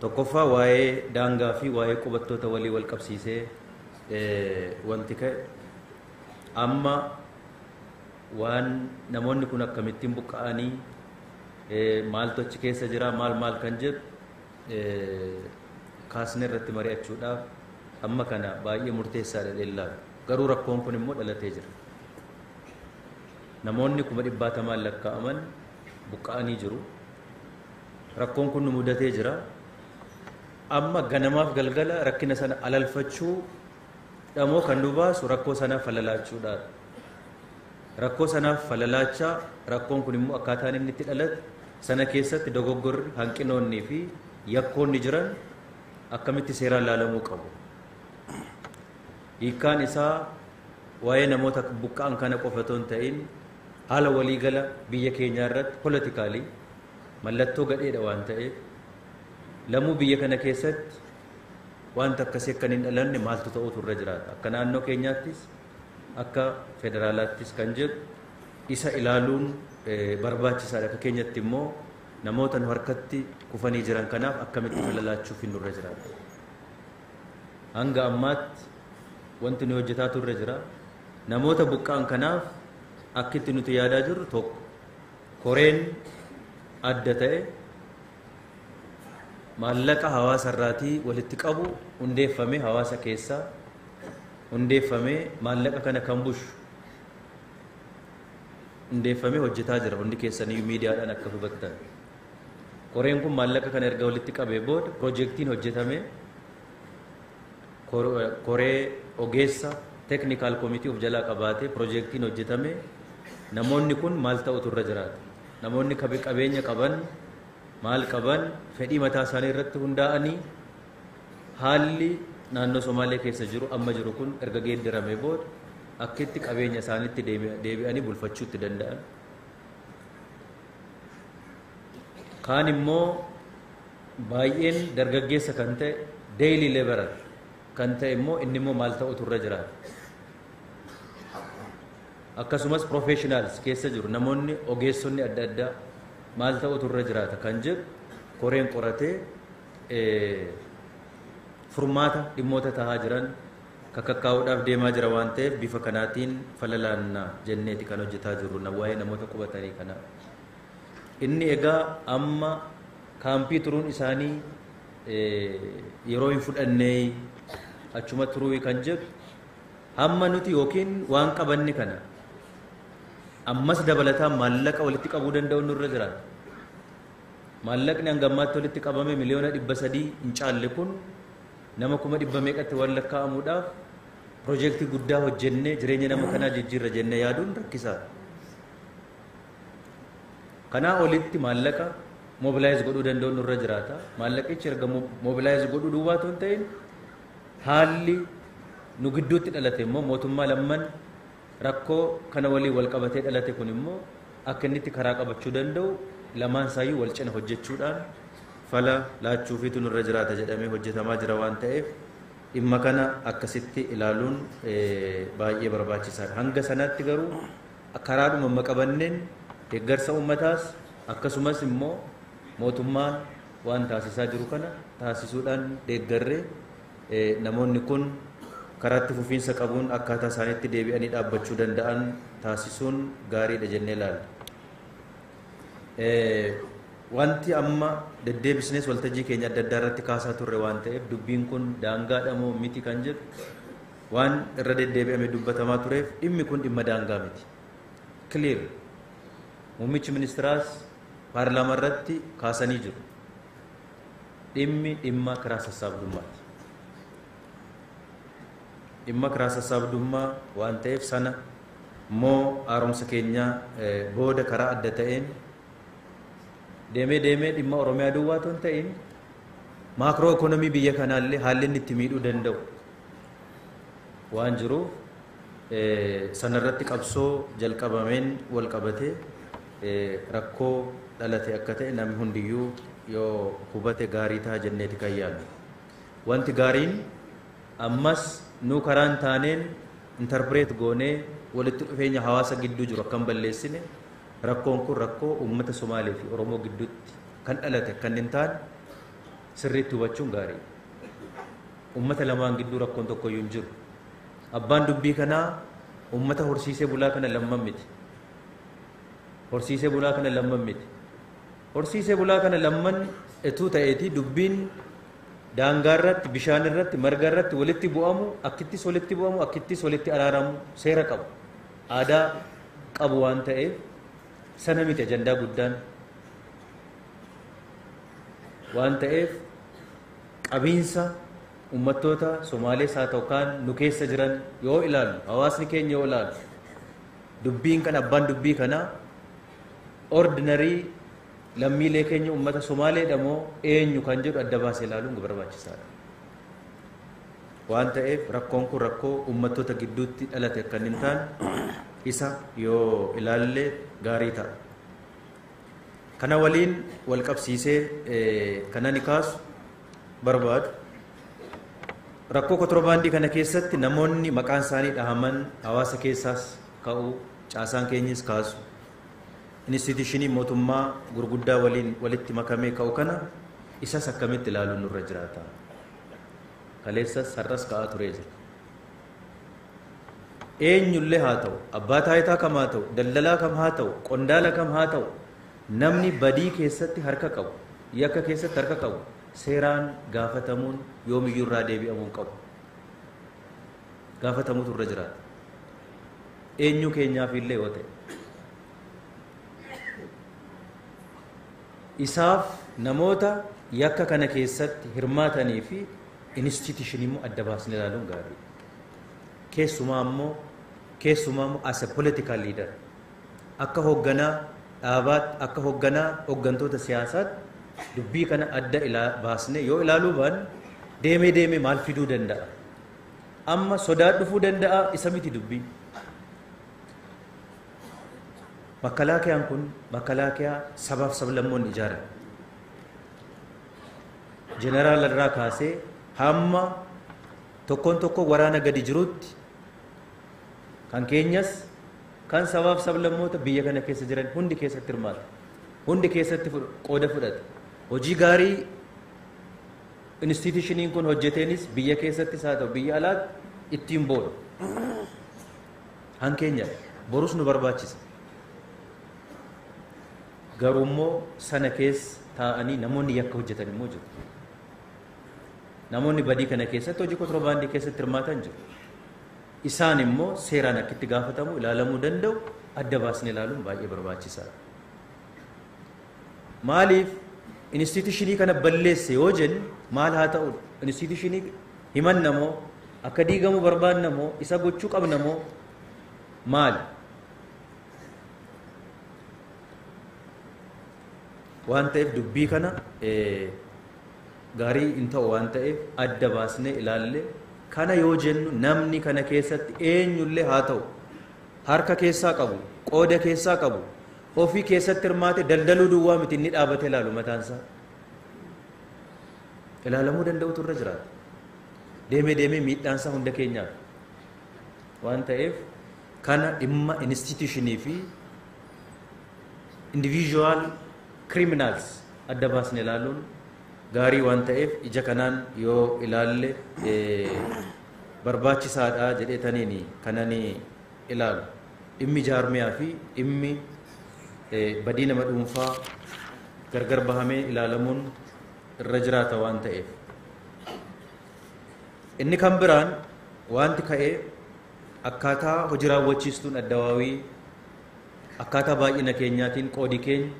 Tokkoffaa waa'ee daangaa fi waa'ee qubattoota walii wal qabsiisee wanti ka'e amma waan namoonni kun akkamittiin buqqa'anii maaltu achi keessa jira maal maal kan jedhu kaasnee irratti mari'achuudhaaf amma kana baay'ee murteessaadha dheellaalu. Garuu rakkoon kun immoo dhalatee jira. Namoonni kuma dhibbaatamaan lakkaa'aman buqqa'anii jiru. Rakkoon kun nu mudatee jira. Amma ganamaaf galgala rakkina sana alalfachuu dhamoo kan nu baasu rakkoo sanaaf falalaachuudha. Rakkoo sanaaf falalaachaa rakkoon kun immoo akkaataan inni itti dhalate sana keessatti dogoggorri hanqinoonnii fi yakkoonni jiran akkamitti seeraan laalamuu qabu. Hiikkaan isaa waa'ee namoota buqqa'an kana qofa otoo hin ta'in Haala walii gala biyya keenyaa irratti politically mallattoo gadheedha waan ta'eef lamuu biyya kana keessatti waanti akkasii akka hin dhalanne maaltu ta'uutu irra jiraata. Akka naannoo keenyaattis akka federaalaattis kan jedhu isa ilaaluun barbaachisaadha. Akka keenyatti immoo namoota nu harkatti kufanii jiran kanaaf akkamitti fala laachuufiin nurra jiraata. Hanga ammaatti wanti nuyi hojjetaa turre jira. Namoota buqqa'an kanaaf akkitti nuti yaadaa jirru tokko koreen adda ta'e maallaqa hawaasa irraatii walitti qabu hundeeffamee hawaasa keessaa hundeeffamee maallaqa kana kan bushu hundeeffamee hojjetaa jira hundi keessanii miidiyaadhaan akka hubattan. Koreen kun maallaqa kana erga walitti qabee booda piroojeektiin hojjetamee koree ogeessa teeknikaal komitii of jalaa qabaatee piroojeektiin hojjetamee namoonni kun maal ta'utu irra jiraata? Namoonni qabeenya qaban maal qaban fedhii mataa isaanii irratti hundaa'anii haalli naannoo Somaalee keessa jiru amma jiru kun erga geeddaramee booda akkitti qabeenya isaaniitti deebi'anii bulfachuutti danda'an Kaan immoo baay'een dargaggeessa kan ta'e daily laborer kan ta'e immoo inni immoo maal ta'utu irra jiraata. Akkasumas professionals keessa jiru namoonni ogeessonni adda addaa maal ta'utu irra jiraata kan jedhu koreen qoratee furmaata dhimmoota tahaa jiran kakakkaa'uudhaaf deemaa jira waan ta'eef bifa kanaatiin fala laanna jenneeti kan hojjetaa jirru na waa'ee namoota qubatanii kana. Inni egaa amma kaampii turuun isaanii yeroo hin fudhannee achuma turuu kan jedhu hamma nuti yookiin waan qabanne kana ammas dabalataa maallaqa walitti qabuu danda'u nurra jira. Maallaqni hanga ammaatti walitti qabame miliyoona dhibba sadii hin caalle kun Nama kuma dhibba meeqatti waan lakkaa'amuudhaaf piroojeektii guddaa hojjennee jireenya nama kanaa jijjiirra jennee yaaduun rakkisaadha. Kanaa olitti maallaqa mobilaayiz godhuu danda'uun nurra jiraata. Maallaqichi erga mobilaayiz godhuu duwwaa otoo hin ta'in haalli nu gidduutti dhalate immoo mootummaa lamman Rakkoo kana waliin walqabatee dhalate kun immoo akka inni itti karaa qabachuu danda'u lamaan isaayyuu wal cina hojjechuudhaan fala laachuufiitu nurra jiraata jedhamee hojjetamaa jira waan ta'eef dhimma kana akkasitti ilaaluun baay'ee barbaachisaadha. Hanga sanaatti garuu karaadhuma amma qabanneen deeggarsa uummataas akkasumas immoo mootummaan waan taasisaa jiru kana taasisuudhaan deeggarree Namoonni kun karaa itti fufiinsa qabuun akkaataa isaaniitti deebi'anii dhaabbachuu danda'an taasisuun gaariidha jennee ilaalla. Wanti amma deddeebisnees waltajjii keenya adda addaa irratti kaasaa turre waan ta'eef dubbiin kun daangaadha moo miti kan jedhu waan irra deddeebi'amee dubbatamaa tureef dhimmi kun dhimma daangaa miti. Clear. Muummichi ministiraas paarlaamaa irratti kaasanii jiru. Dhimmi dhimma kiraa sassaabdummaati. Dhimma kiraa sassaabdummaa waan ta'eef sana immoo haaromsa keenya booda karaa adda ta'een deemee deemee dhimma Oromiyaa duwwaa otoo hin ta'in maakroo ikoonomii biyya kanaallee haalli inni itti miidhuu danda'u waan jiruuf Sana irratti qabsoo jalqabameen wal qabatee rakkoo dhalate akka ta'e namni hundiyyuu yoo hubate gaarii ta'a jenneeti kan yaadnu. Wanti gaariin ammas nuu karaan taaneen interpreet goonee walitti dhufeenya hawaasa gidduu jiru akka hin balleessine rakkoon kun rakkoo uummata Somaalee fi Oromoo gidduutti kan dhalate akka hin taane sirriitti hubachuun gaariidha. Uummata lamaan gidduu rakkoon tokkoyyuu hin jiru. Abbaan dubbii kanaa ummata horsiisee bulaa kana lamman miti. Horsiisee bulaa kana lamman miti. Horsiisee bulaa kana lamman etuu ta'eetii dubbiin daangaa irratti, bishaan irratti, marga irratti walitti bu'amu, akkittis walitti bu'amu, akkittis walitti araaramu seera qabu. Aadaa qabu waan ta'eef sana miti ajandaa guddaan. Waan ta'eef qabiinsa Ummattoota Somaalees haa ta'u kaan nu keessa jiran yoo ilaallu, hawaasni keenya yoo ilaallu, dubbiin kana, abbaan dubbii kanaa ordinary lammiilee keenya ummata Somaaleedha moo eenyu kan jedhu adda baasee ilaaluun barbaachisaadha. Waan ta'eef rakkoon kun rakkoo ummattoota gidduutti dhalate akka hin taane isa yoo ilaalle gaarii ta'a. Kana waliin wal qabsiisee kan ani kaasu barbaadu rakkoo kotirobaandii kana keessatti namoonni maqaan isaanii dhahaman hawaasa keessaas ka'u caasaan keenyis kaasu inistiitiyuushinii mootummaa gurguddaa waliin walitti makamee ka'u kana isas akkamitti ilaaluun nurra jiraata kaleessas har'as ka'aa turee jira. Eenyullee haa ta'u, abbaa taayitaa kam haa ta'u, daldalaa kam haa ta'u, qondaala kam haa ta'u, namni badii keessatti harka qabu, yakka keessatti harka qabu seeraan gaafatamuun yoomiyyuu irraa deebi'amuu hin qabu. Gaafatamuutu irra jiraata. Eenyu keenyaaf illee yoo ta'e. Isaaf namoota yakka kana keessatti hirmaatanii fi institution immoo adda baasnee ilaaluun gaariidha. Keessumaa immoo keessumaa immoo as a political leader akka hoogganaa dhaabaatti akka hoogganaa hooggantoota siyaasaatti dubbii kana adda ilaa baasnee yoo ilaaluu baanne deemee deemee maal fiduu danda'a? Amma sodaa dhufuu danda'a isa miti dubbii. Makkalaakiyaan kun makkalaakiyyaa sabaaf sablammoonni ijaarame. Jeneraala irraa kaasee hamma tokkoon tokkoo waraana gadi jirutti kan keenyas kan sabaaf sablammoota biyya kana keessa jiran hundi keessatti hirmaata. Hundi keessatti qooda fudhata. Hojii gaarii instituushiniin kun hojjeteenis biyya keessattis haa ta'u biyya alaatti ittiin boona. Hankeenya borus nu barbaachisa. Garuu immoo sana keessa taa'anii namoonni yakka hojjetan immoo jiru. Namoonni badii kana keessatti hojii kontirobaandii keessatti hirmaatan jiru. Isaan immoo seeraan akkitti gaafatamu ilaalamuu danda'u adda baasnee ilaaluun baay'ee barbaachisaadha. Maaliif inistiitishinii kana balleesse yoo jennu maal haa ta'u inistiitishinii himanna moo akka diigamu barbaanna moo isa gochuu qabna moo maali? waan ta'eef dubbii kana gaarii hin ta'u waan ta'eef adda baasnee ilaalle kana yoo jennu namni kana keessatti eenyullee haa ta'u harka keessaa qabu qooda keessaa qabu ofii keessatti hirmaate daldaluu duwwaa miti inni dhaabate ilaalu mataansaa ilaalamuu danda'utu irra jiraata deemee deemee miidhaansaa hunda keenyaaf waan ta'eef kana dhimma institution fi individual criminals adda baasne ilaaluun gaarii waan ta'eef ija kanaan yoo ilaalle barbaachisaadha jedhee taniini kanani ilaalu dhimmi jaarmiyaa fi dhimmi badii nama dhuunfaa gargar bahamee ilaalamuun irra jiraata waan ta'eef inni kan biraan wanti ka'ee Akkaataa hoji raawwachiistuun Addawaawii akkaataa baay'ina keenyaatiin qoodi keenya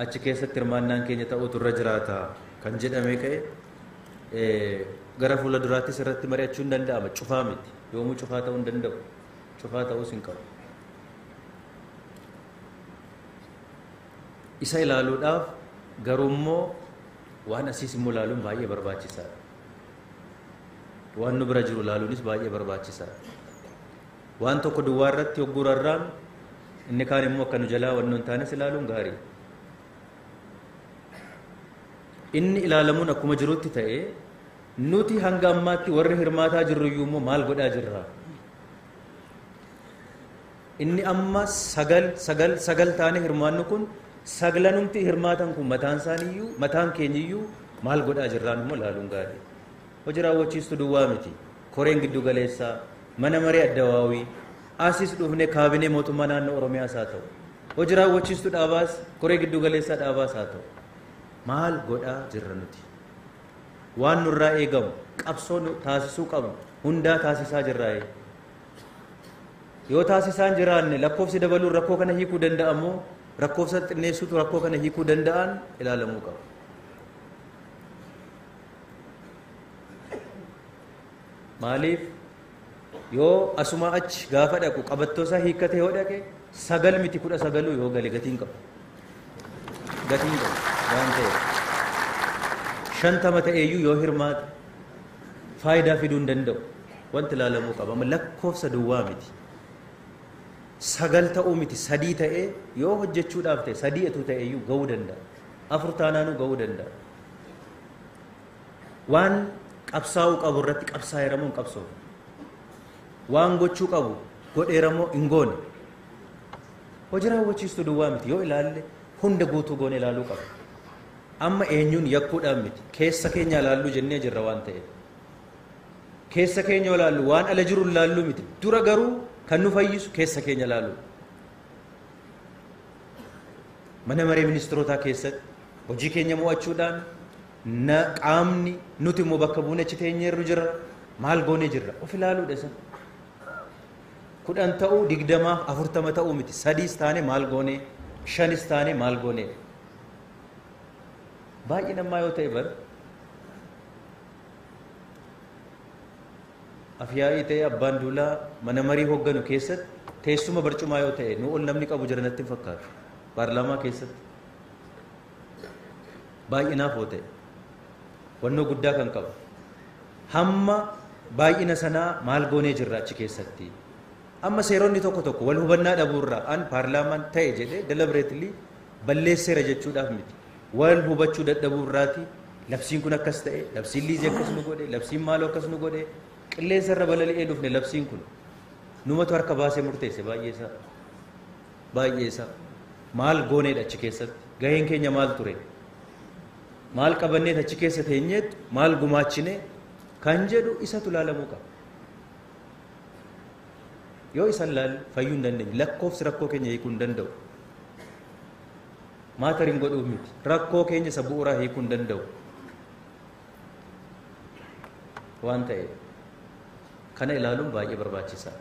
achi keessatti hirmaannaan keenya ta'uutu irra jiraata kan jedhamee ka'e gara fuula duraattis irratti mari'achuu hin danda'ama cufaa miti yoomuu cufaa ta'uu hin danda'u cufaa ta'uus hin qabu. Isa ilaaluudhaaf garuu immoo waan asiis immoo ilaaluun baay'ee barbaachisaadha. Waan nu bira jiru ilaaluunis baay'ee barbaachisaadha. Waan tokko duwwaa irratti hogguu rarraanu inni kaan immoo akka nu jalaa waan nu hin taanes ilaaluun gaarii. Inni ilaalamuun akkuma jirutti ta'e nuti hanga ammaatti warri hirmaataa jirru iyyuu immoo maal godhaa jirra? Inni amma sagal sagal sagal taane hirmaannu kun saglanumti hirmaatan kun mataan isaaniyyuu mataan keenyiyyuu maal godhaa jirraan immoo ilaaluun gaarii. Hojii raawwachiistu duwwaa miti. Koreen giddu galeessaa, mana maree addawaawii, asis dhufne kaabinee mootummaa naannoo Oromiyaas haa ta'u. Hojii raawwachiistu dhaabaas, koree giddu galeessaa dhaabaas haa ta'u. Maal godhaa jirra nuti? Waan nurraa eegamu, qabsoo taasisuu qabnu hundaa taasisaa jirraayee. Yoo taasisaa hin jiraanne lakkoofsi dabaluun rakkoo kana hiikuu danda'a moo rakkoofsa xinneessuutu rakkoo kana hiikuu danda'an ilaalamuu qaba. Maaliif yoo asumaa achi gaafa dhaqu qabattoo isaa hiikkatee yoo dhaqe sagal miti kudha sagaluu yoo gale gatiin qabu. Gatiin qabu waan ta'eef. Shantama ta'eeyyuu yoo hirmaate faayidaa fiduu hin danda'u. Wanti ilaalamuu qabu amma lakkoofsa duwwaa miti. Sagal ta'uu miti sadii ta'ee yoo hojjechuudhaaf ta'e sadii etuu ta'eeyyuu ga'uu danda'a. Afur taanaanuu ga'uu danda'a. Waan qabsaa'uu qabu irratti qabsaa'eeramoo hin qabsoomu. Waan gochuu qabu godheeramoo hin goone. Hojii raawwachiistuu duwwaa miti yoo ilaalle hunda guutuu goone ilaaluu qaba. Amma eenyuun yakkuudhaan miti keessa keenya ilaalluu jennee jirra waan ta'eef. Keessa keenya yoo ilaallu waan ala jiru ilaallu miti. Dura garuu kan nu fayyisu keessa keenya ilaallu. Mana maree ministirootaa keessatti hojii keenya mo'achuudhaan na qaamni nuti immoo bakka buune achi teenyeerru jirra. Maal goonee jirra? Of ilaaluudha isa. Kudhan ta'uu digdamaaf afurtama ta'uu miti. Sadiis taane maal goonee? Shanis taane maal goonee? Baay'een ammaa yoo ta'e bara Afyaa'ii ta'ee abbaan duulaa mana marii hoogganu keessatti teessuma barcumaa yoo ta'e nu ol namni qabu jira natti hin fakkaatu. Paarlaamaa keessatti baay'inaaf yoo ta'e wannoo guddaa kan qabu hamma baay'ina sanaa maal goonee jirra achi keessatti Amma seeronni tokko tokko wal hubannaa dhabuu irraa an paarlaamaan ta'e jedhee deliberately balleesseera jechuudhaaf miti. Wal hubachuu dadhabuu irraati labsiin kun akkas ta'e, labsiin liizii akkas nu godhe, labsiin maaloo akkas nu godhe, qilleensa irra balali'ee dhufne labsiin kun. Numatu harka baasee murteesse baay'ee isaa. Baay'ee isaa. Maal gooneedha achi keessatti? Gaheen keenya maal ture? Maal qabanneet achi keessa teenyeet maal gumaachine kan jedhu isatu ilaalamuu qaba. Yoo isan laalu fayyuu hin dandeenye. Lakkoofsi rakkoo keenya hiikuu hin danda'u. Maatar hin godhuuf miti. Rakkoo keenya isa bu'uuraa hiikuu hin danda'u. Waan ta'eef kana ilaaluun baay'ee barbaachisaadha.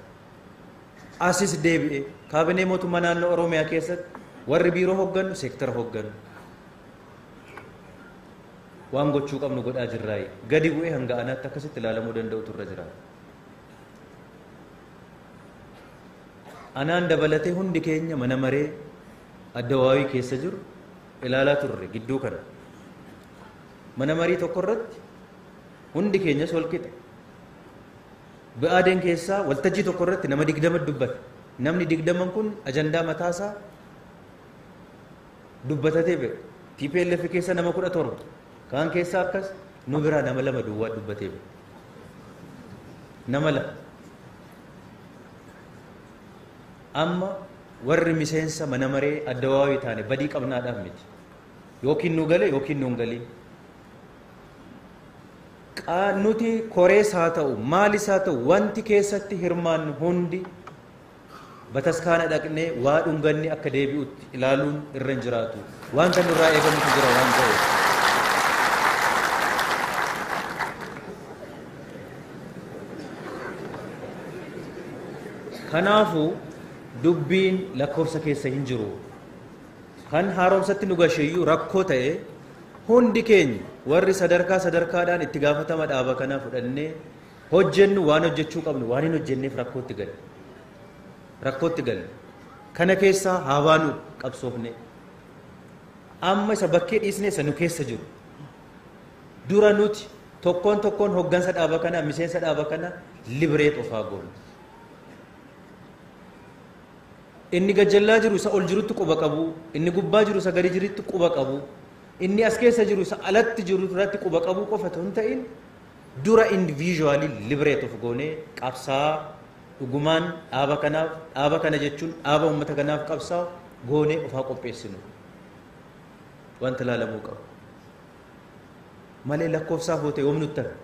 Asis deebi'ee kaabinee mootummaa naannoo Oromiyaa keessatti warri biiroo hoggannu seektara hoggannu. waan gochuu qabnu godhaa jirraayi gadi bu'ee hanga anaatti akkasitti ilaalamuu danda'utu irra jira anaan dabalatee hundi keenya mana maree addawaawii keessa jiru ilaalaa turre gidduu kana mana marii tokko irratti hundi keenyas wal qixa bi'aadeen keessaa waltajjii tokko irratti nama digdama dubbata namni digdaman kun ajandaa mataasaa dubbatatee bira tplf keessa nama kudha torba kaan keessa akkas nu biraa nama lama duwwaa dubbatee bira nama lama amma warri miseensa mana maree addawaawii taane badii qabnaadhaan miti yookiin nu gale yookiin nu hin galin nuti korees haa ta'u maalis haa ta'u wanti keessatti hirmaannu hundi Bataskaana dhaqnee waa dhunganne akka deebi'utti ilaaluun irra hin jiraatu. Wanta nurraa eegamutu jira waan ta'eef. Kanaafuu dubbiin lakkoofsa keessa hin jiru. Kan haaromsatti nu gasheeyyuu rakkoo ta'e hundi keenya warri sadarkaa sadarkaadhaan itti gaafatama dhaaba kanaa fudhannee hojjennu, waan hojjechuu qabnu, waan hin hojjenneef rakkootti galle. Rakkootti galle. Kana keessaa haa baanu qabsoofnee. Amma isa bakkee dhiisne isa nu keessa jiru. Dura nuti tokkoon tokkoon hoggansa dhaaba kana, miseensa dhaaba kana libreet ofaa goonu. Inni gajjallaa jiru isa ol jirutti quba qabu, inni gubbaa jiru isa gadi jirutti quba qabu, inni as keessa jiru isa alatti jiru irratti quba qabu qofa otoo hin ta'in Dura individually liberate of goonee qabsaa'aa dhugumaan dhaaba kanaaf, dhaaba kana jechuun dhaaba uummata kanaaf qabsaa'u goonee of haa qopheessinu. Wanti ilaalamuu qabu. Malee lakkoofsaaf hootee yoom nutti hafe?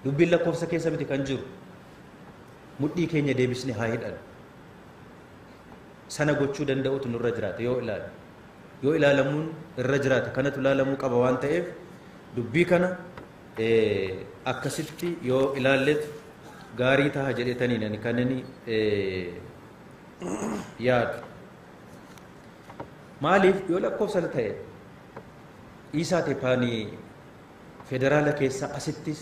Dubbiin lakkoofsa keessa miti kan jiru. Mudhii keenya deebisne haa hidhannu. Sana gochuu danda'utu nurra jiraata yoo ilaalu. yoo ilaalamuun irra jiraate kanatu ilaalamuu qaba waan ta'eef dubbii kana akkasitti yoo ilaalletu gaarii taha jedhetaniin ani kan inni yaadu. Maaliif yoo lakkoofsa ta'e dhiisaa teepaanii federaala keessaa asittis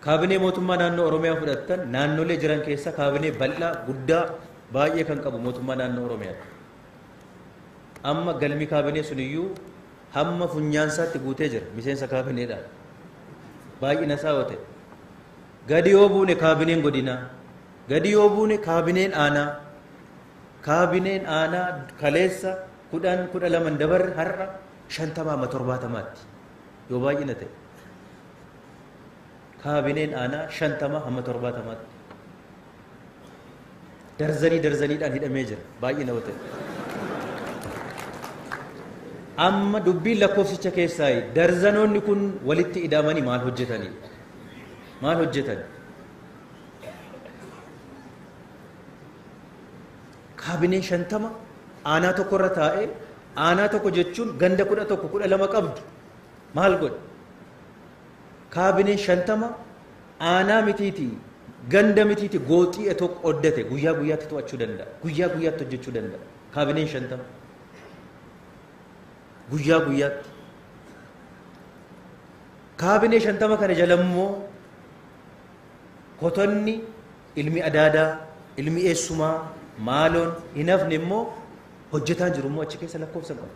kaabinee mootummaa naannoo Oromiyaa fudhattan naannolee jiran keessaa kaabinee bal'aa guddaa baay'ee kan qabu mootummaa naannoo Oromiyaati. Amma galmi kaabinee sun iyyuu hamma funyaan isaatti guutee jira miseensa kaabineedhaan. Baay'ina isaa yoo ta'e. Gadi yoo buune kaabineen godinaa. Gadi yoo buune kaabineen aanaa. Kaabineen aanaa kaleessa kudhan kudha laman dabarre har'a shantamaa amma torbaatamaatti yoo baay'ina ta'e. Kaabineen aanaa shantamaa amma torbaatamaatti. darzanii darzaniidhaan hidhamee jira baay'ina yoo ta'e. Amma dubbiin lakkoofsicha keessaa darzanoonni kun walitti ida'amanii maal hojjetanii maal hojjetan kaabinee shantama aanaa tokko irra taa'ee aanaa tokko jechuun ganda kudha tokko kudha lama qabdu maal godhe Kaabineen 50 aanaa mitiiti ganda mitiiti gooxii etoo qoddate guyyaa guyyaatti to'achuu danda'a. Guyyaa guyyaatti hojjechuu danda'a. Kaabineen 50 guyyaa guyyaatti. Kaabinee 50 kana jala immoo kotonni ilmi adaadaa, ilmi eessumaa, maaloon hin hafne immoo hojjetaan jiru immoo achi keessa lakkoofsa qaba.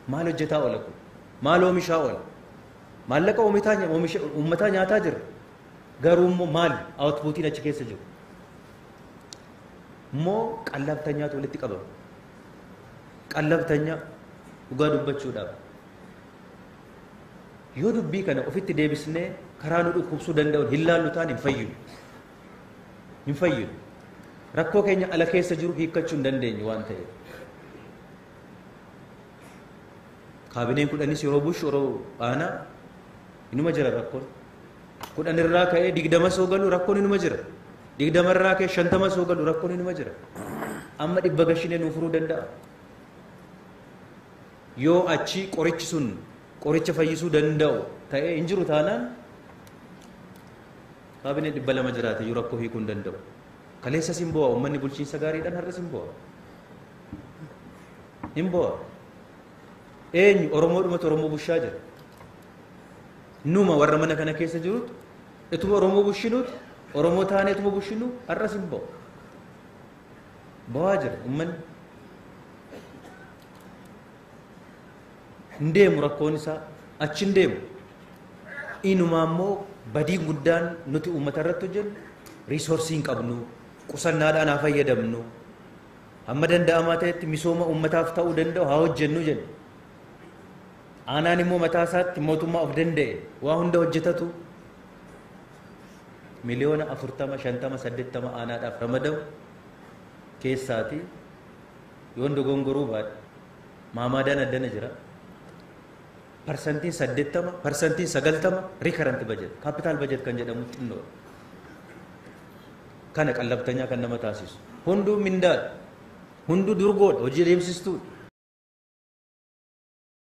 Maal hojjetaa oola kun? Maal oomishaa oola? Maallaqa uummataa nyaataa jira. Garuu immoo maali outputiin achi keessa jiru? Immoo qallabtanyaatu walitti qabama. Qallabtanyaa dhugaa dubbachuudhaaf. Yoo dubbii kana ofitti deebisnee karaa nu dhukkubsuu danda'uun hin laallu taane hin fayyinu. Hin fayyinu. Rakkoo keenya ala keessa jiru hiikkachuu hin dandeenyu waan ta'eef. Kaabineen kudhanis yeroo bushu yeroo aanaa inuma jira rakkoon. Kudhan irraa ka'ee digdama soo galu rakkoon inuma jira. Digdama irraa ka'ee shantama soo galu rakkoon inuma jira. Amma dhibba gashinee nuu furuu danda'a. Yoo achi qorichi sun qoricha fayyisuu danda'u ta'ee hin jiru taanaan kaabinee dhibba lama jiraate iyyuu rakkoo hiikuu hin danda'u. Kaleessa sin bu'a uummanni bulchiinsa gaariidhaan har'a sin bu'a. hin boo'a eenyu oromoodhumatu oromoo bushaa jira numa warra mana kana keessa jirutu ituma oromoo bushinuuti oromoo taanee ituma bushinu har'as hin boo'a boo'aa jira ummanni hin deemu rakkoon isaa achi hin deemu inumaa immoo badii guddaan nuti uummata irratti hojjennu riisoorsii hin qabnu qusannaadhaan haa fayyadamnu Hamma danda'amaa ta'etti misooma uummataaf ta'uu danda'u haa hojjennu jenna. Aanaan immoo mataa isaatti mootummaa of danda'e waa hunda hojjetatu miliyoona 40, 50, 80 aanaadhaaf ramadamu keessaati yoon dogongoruu baadhe maamaadaan addana jira. Parsantiin 80, parsantiin 90 recurrent budget, capital budget kan jedhamu xinnoo kana qallabtanyaa kan nama taasisu. Hunduu mindaadha. Hunduu durgoodha. Hojii adeemsistuudha.